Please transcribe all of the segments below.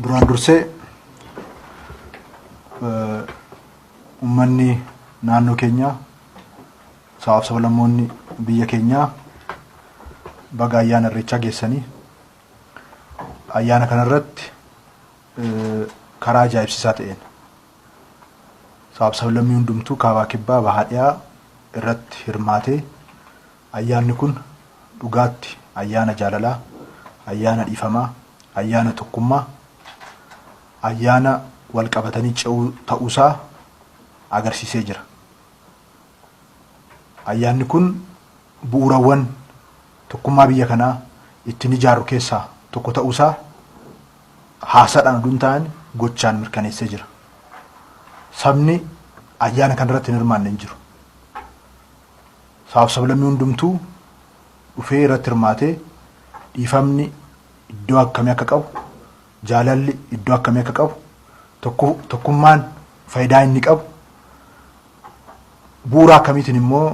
Duraan dursee uummanni naannoo keenyaa sabaaf sablammoonni biyya keenyaa baga ayyaana irreechaa geessanii ayyaana kanarratti karaa ajaa'ibsiisaa ta'een sabaaf sablammii hundumtuu kaabaa kibbaa bahaa dhiyaa irratti hirmaatee Ayyaanni kun dhugaatti ayyaana jaalalaa, ayyaana dhiifamaa, ayyaana tokkummaa, ayyaana wal qabatanii ce'uu ta'uusaa agarsiisee jira. Ayyaanni kun bu'uurawwan tokkummaa biyya kanaa ittiin ijaarru keessaa tokko ta'uusaa haasaadhaan oduu hin taane gochaan mirkaneessee jira. Sabni ayyaana kanarratti hin hirmaanne hin jiru. sabaaf sablammii hundumtuu dhufee irratti hirmaatee dhiifamni iddoo akkamii akka qabu, jaalalli iddoo akkamii akka qabu, tokkummaan fayidaa inni qabu, bu'uura akkamiitiin immoo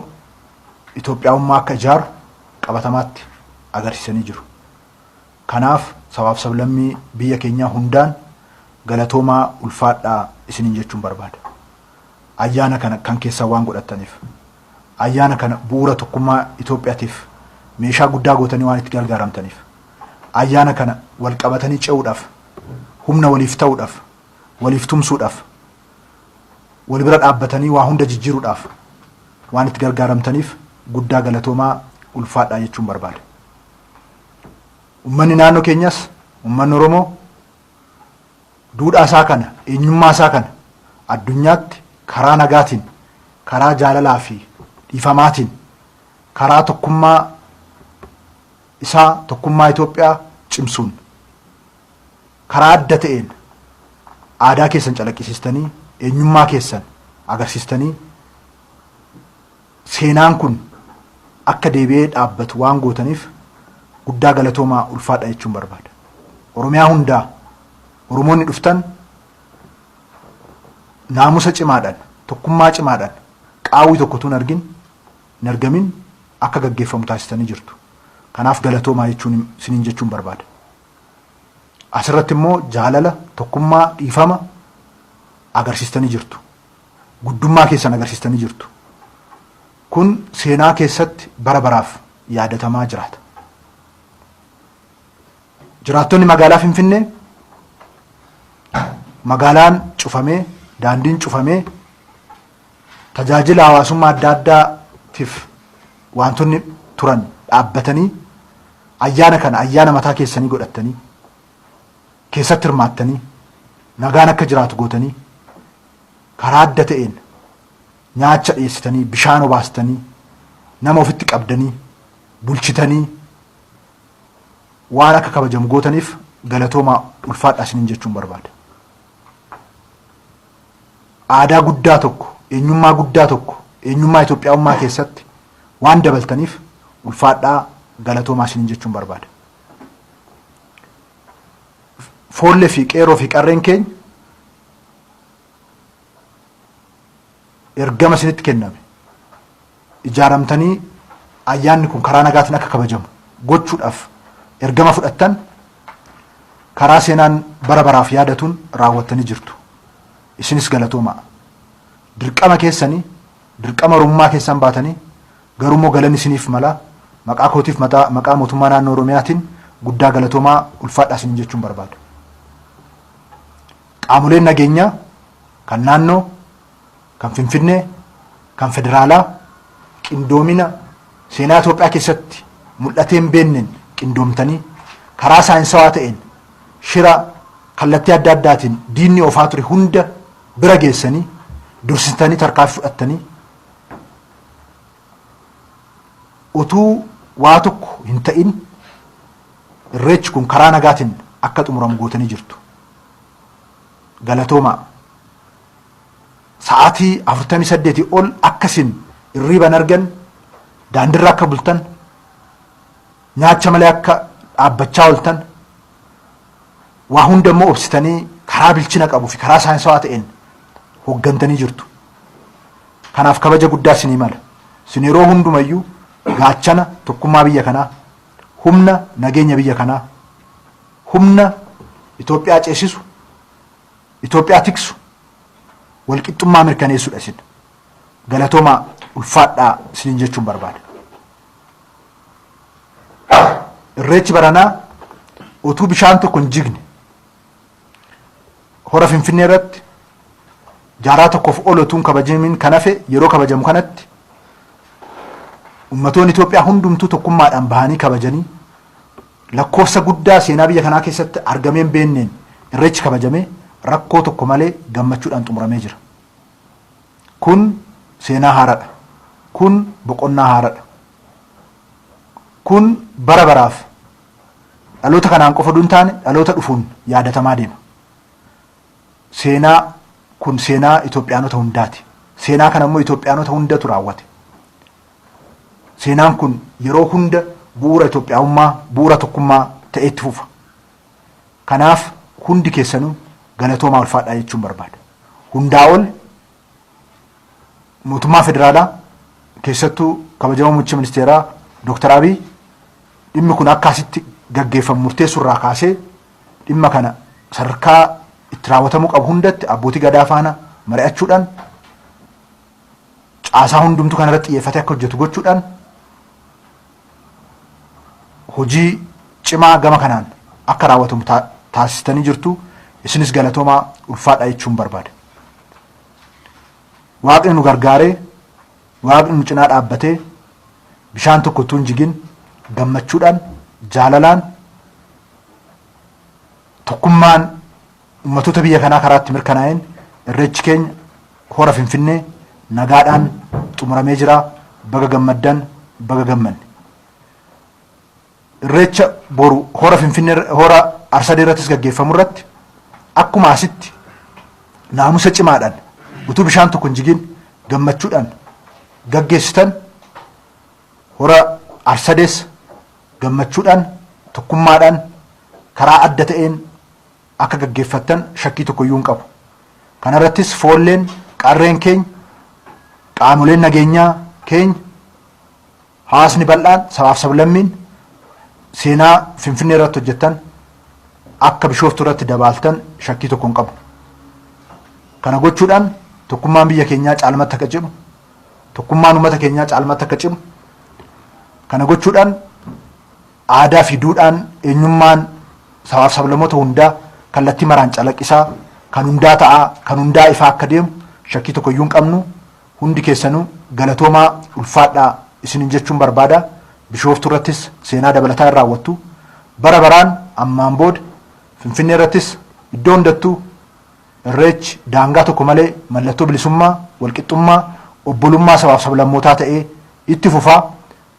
Itoophiyaawummaa akka ijaaru qabatamaatti agarsiisanii jiru. Kanaaf sabaaf sablammii biyya keenyaa hundaan galatoomaa ulfaadhaa isiniin jechuun barbaada. Ayyaana kana kan keessan waan godhattaniif, ayyaana kana bu'uura tokkummaa Itoophiyatiif meeshaa guddaa gootanii waan itti gargaaramtaniif, ayyaana kana wal qabatanii ce'uudhaaf, humna waliif ta'uudhaaf, waliif tumsuudhaaf, wal bira dhaabbatanii waa hunda jijjiiruudhaaf waan itti gargaaramtaniif guddaa galatoomaa, ulfaadhaa jechuun barbaada. Ummanni naannoo keenyas, ummanni Oromoo, Duudhaa isaa kana, eenyummaa isaa kana addunyaatti karaa nagaatiin, karaa jaalalaa fi dhiifamaatiin, karaa tokkummaa isaa, tokkummaa Itoophiyaa cimsuun, karaa adda ta'een aadaa keessan calaqqisiistanii, eenyummaa keessan agarsiistanii, Seenaan kun akka deebi'ee dhaabbatu waan gootaniif guddaa galatoomaa ulfaadha jechuun barbaada. Oromiyaa hundaa Oromoonni dhuftan naamusa cimaadhan, tokkummaa cimaadhan qaawwi tokko utuu hin argin, hin argamin akka gaggeeffamu taasistanii jirtu. Kanaaf galatoomaa jechuun isiniin jechuun barbaada. Asirratti immoo jaalala, tokkummaa, dhiifama agarsiistanii jirtu. Guddummaa keessan agarsiistanii jirtu. Kun seenaa keessatti bara baraaf yaadatamaa jiraata. Jiraattonni magaalaa Finfinnee magaalaan cufamee, daandiin cufamee, tajaajila hawaasummaa adda addaatiif waantonni turan dhaabbatanii ayyaana kana ayyaana mataa keessanii godhattanii keessatti hirmaattanii nagaan akka jiraatu gootanii karaa adda ta'een nyaacha dhiyeessitanii, bishaan obaastanii, nama ofitti qabdanii, bulchitanii waan akka kabajamu gootaniif galatoomaa ulfaadhaa isiniin jechuun barbaada. Aadaa guddaa tokko, eenyummaa guddaa tokko, eenyummaa Itoophiyaawummaa keessatti waan dabaltaniif ulfaadhaa galatoomaa isiniin jechuun barbaada. Foollee fi qeerroo fi qarreen keenya ergama isinitti kenname ijaaramtanii ayyaanni kun karaa nagaatiin akka kabajamu gochuudhaaf ergama fudhattan karaa seenaan bara baraaf yaadatuun raawwattanii jirtu. Isinis galatoomaa. Dirqama keessanii dirqama Oromummaa keessan baatanii garuu immoo galan isiniif mala maqaa kootiif maqaa mootummaa naannoo Oromiyaatiin guddaa galatoomaa ulfaadhaa isiniin jechuun barbaada. Qaamoleen nageenyaa kan naannoo, kan Finfinnee, kan federaalaa qindoomina seenaa Itoophiyaa keessatti mul'atee hin beekneen qindoomtanii karaa saayinsawaa ta'een shira kallattii adda addaatiin diinni oofaa ture hunda bira geessanii dursitanii tarkaanfii fudhattanii Utuu waa tokko hin ta'in Irreechi kun karaa nagaatiin akka xumuramu gootanii jirtu. Galatoomaa. Sa'aatii 48 ol akka isin irriiba hin arganne, daandirra akka bultan, nyaacha malee akka dhaabbachaa ooltan, Waa hunda immoo obsitanii karaa bilchina qabu fi karaa saayinsawaa ta'een hoggantanii jirtu. Kanaaf kabaja guddaa sinii mala. Sin yeroo hundumayyuu gaachana tokkummaa biyya kanaa, humna nageenya biyya kanaa, humna Itoophiyaa ceesisu, Itoophiyaa tiksu, walqixxummaa mirkaneessudha isin. Galatoomaa ulfaadhaa isiniin jechuun barbaada. Irreechi baranaa utuu bishaan tokko hin jigne hora Finfinnee irratti jaarraa tokkoof ol utuu hin kabajamiin kan hafe yeroo kabajamu kanatti ummatoonni Itoophiyaa hundumtuu tokkummaadhaan bahanii kabajanii lakkoofsa guddaa seenaa biyya kanaa keessatti argamee hin beekneen irreechi kabajamee rakkoo tokko malee gammachuudhaan xumuramee jira. Kun seenaa haaradha. Kun boqonnaa haaradha. Kun bara baraaf dhaloota kanaan qofa utuu hin taane dhaloota dhufuun yaadatamaa deema. Seenaa kun seenaa Itoophiyaanota hundaati. Seenaa kana immoo Itoophiyaanota hundatu raawwate. Seenaan kun yeroo hunda bu'uura Itoophiyaawummaa, bu'uura tokkummaa ta'ee itti fufa. Kanaaf hundi keessanuu galatoomaa ulfaadhaa jechuun barbaada. Hundaa ol mootummaa federaalaa keessattuu kabajamoo muummicha ministeeraa Dooktar Abiy dhimmi kun akka asitti gaggeeffamu murteessuu irraa kaasee dhimma kana sadarkaa itti raawwatamuu qabu hundatti abbootii gadaa faana mari'achuudhaan caasaa hundumtuu kana irratti xiyyeeffatee akka hojjetu gochuudhaan hojii cimaa gama kanaan akka raawwatamu taasistanii jirtu isinis galatoomaa ulfaadhaa jechuun barbaada. Waaqni nu gargaaree waaqni nu cinaa dhaabbatee bishaan tokko utuu hin jigin gammachuudhaan jaalalaan tokkummaan Ummatoota biyya kanaa karaatti mirkanaa'een Irreechi keenya Hora Finfinnee nagaadhaan xumuramee jira. Baga gammaddan, baga gammanne. Irreecha boru Hora Finfinnee Hora Arsadee irrattis gaggeeffamu irratti akkuma asitti naamusa cimaadhaan utuu bishaan tokko hin jigin gammachuudhaan gaggeessitan Hora Arsadees gammachuudhaan tokkummaadhaan karaa adda ta'een akka gaggeeffattan shakkii tokko iyyuu hin qabu. Kana irrattis foolleen, qarreen keenya, qaamoleen nageenyaa keenya, hawaasni bal'aan, sabaaf sablammiin seenaa Finfinnee irratti hojjettan akka Bishooftuu irratti dabaaltan shakkii tokko hin qabnu. Kana gochuudhaan tokkummaan biyya keenyaa caalmatti akka cimu, tokkummaan uummata keenyaa caalmatti akka cimu, kana gochuudhaan Aadaa fi duudhaan, eenyummaan sabaaf sablamoota hundaa kallattii maraan calaqqisaa, kan hundaa ta'aa, kan hundaa ifaa akka deemu shakkii tokko iyyuu hin qabnu. Hundi keessanuu galatoomaa, ulfaadhaa isiniin jechuun barbaada. Bishooftuu irrattis seenaa dabalataa hin raawwattu. Bara baraan ammaan booda Finfinnee irrattis iddoo hundattuu Irreechi daangaa tokko malee mallattoo bilisummaa, walqixxummaa, obbolummaa sabaaf sablammootaa ta'ee itti fufa.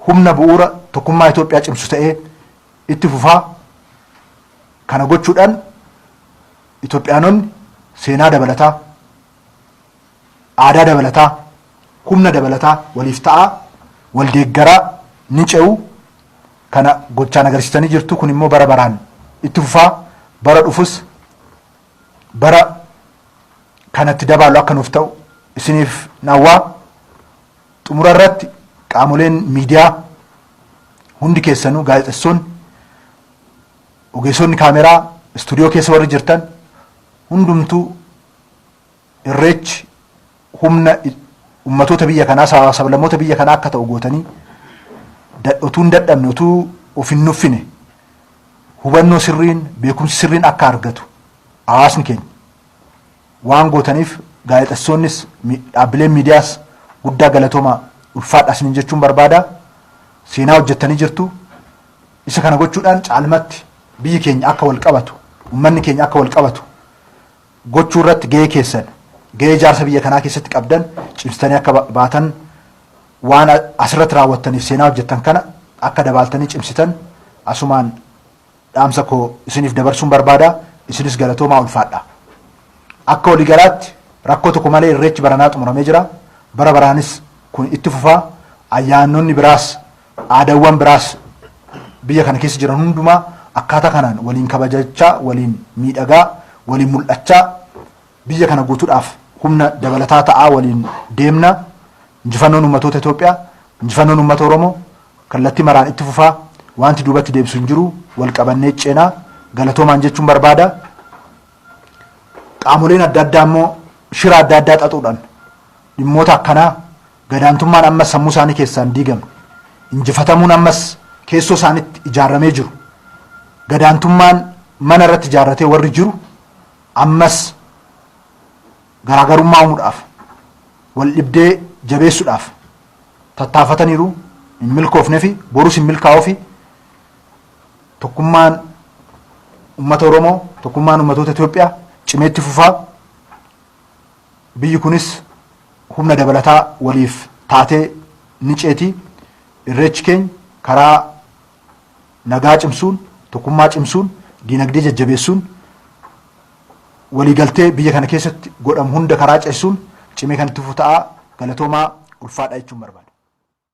humna bu'uura tokkummaa Itoophiyaa cimsu ta'ee itti fufa. Kana gochuudhaan Itoophiyaanonni seenaa dabalataa, aadaa dabalataa, humna dabalataa waliif ta'aa, wal deeggaraa ni ce'u. Kana gochaan agarsiisanii jirtu. Kun immoo bara baraan itti fufa. Bara dhufus bara kanatti dabaallu akka nuuf ta'u isiniif hawwa. Xumura irratti qaamoleen miidiyaa hundi keessanuu gaazexessoonni, ogeessonni kaameraa, istuudiyoo keessa warri jirtan hundumtuu irreechi humna ummatoota biyya kanaa sabaa sablammoota biyya kanaa akka ta'u gootanii otuu hin dadhabne otuu of hin nuffine hubannoo sirriin beekumsi sirriin akka argatu hawaasni keenya waan gootaniif gaazexessoonnis dhaabbileen miidiyaas guddaa galatooma ulfaadha isiniin jechuun barbaada seenaa hojjettanii jirtu isa kana gochuudhaan caalmatti biyyi keenya akka wal qabatu ummanni keenya akka wal qabatu gochuu irratti gahee keessan gahee ijaarsa biyya kanaa keessatti qabdan cimsitanii akka baatan waan asirratti raawwattaniif seenaa hojjettan kana akka dabaaltanii cimsitan asumaan dhaamsa koo isiniif dabarsuun barbaada. Isinis galatoomaa ulfaadhaa. Akka waligalaatti rakkoo tokko malee irreechi baranaa xumuramee jira. Bara baraanis kun itti fufa. Ayyaanonni biraas aadaawwan biraas biyya kana keessa jiran hundumaa akkaataa kanaan waliin kabajachaa, waliin miidhagaa, waliin mul'achaa Biyya kana guutudhaaf humna dabalataa ta'aa waliin deemna. Injifannoon ummatoota Itoophiyaa, injifannoon ummata Oromoo kallattii maraan itti fufaa. Waanti duubatti deebisu hin jiru. Wal qabannee ceena. Galatoomaan jechuun barbaada. Qaamoleen adda addaa immoo shira adda addaa xaxuudhaan dhimmoota akkanaa gadaantummaan ammas sammuu isaanii keessaan diigame. Injifatamuun ammas keessoo isaanitti ijaarramee jiru. Gadaantummaan mana irratti ijaarratee warri jiru Ammas garaagarummaa uumuudhaaf, waldhibdee jabeessuudhaaf tattaafataniiru, hin milkoofnefi, borus hin milkaa'uufi. Tokkummaan ummata Oromoo, tokkummaan ummatoota Itoophiyaa cimee itti fufa. Biyyi kunis humna dabalataa waliif taatee ni ceeti. Irreechi keenya karaa nagaa cimsuun, tokkummaa cimsuun, diinagdee jajjabeessuun, waliigaltee biyya kana keessatti godhamu hunda karaa ceessuun cimee kan itti fufu ta'a. Galatoomaa, ulfaadhaa jechuun barbaada.